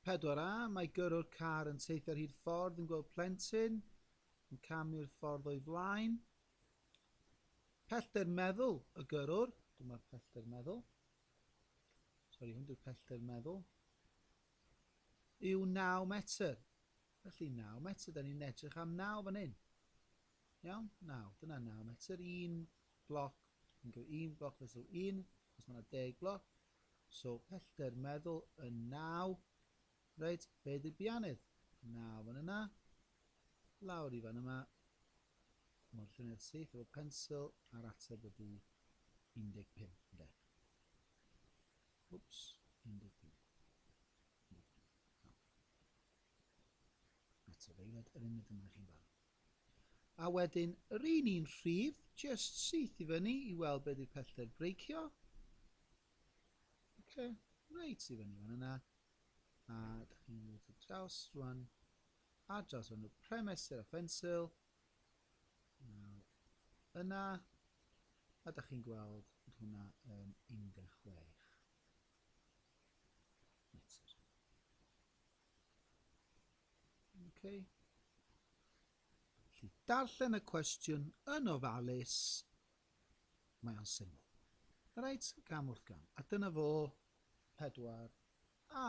4A, Mae gyrrwr car yn teithio ar hyd ffordd yn gweld plentyn yn camu'r ffordd o'i flaen. Pellter meddwl y gyrrwr. Dyma'r pellter meddwl. Sori, hwn di'r pellter meddwl. Yw 9 metr. Felly 9 metr, da ni'n edrych am 9 fan hyn. Iawn, 9. Dyna 9 metr. Un bloc, yn gwneud un bloc fesul un, os mae yna 10 bloc, So pellter meddwl yn naw. Reit, be di'r bianydd? Naw fan yna. Lawr i fan yma. Mae'r lluniau'r syth efo pensil a'r ateb ydy 15, ynde? Wps, 15. Ateb eilad yr uned yma chi'n barod. A wedyn yr un un rhif jyst syth i fyny i weld be di'r pellter breicio. Ok, reit i fyny fan yna. A da chi'n mynd i draws rwan. A draws fan y premester a ffensil. Nawr yna. A da chi'n gweld bod hwnna yn 16 metr. Okay. Felly, darllen y cwestiwn yn ofalus. Mae o'n syml. Reit, gam wrth gam. A dyna fo 4A.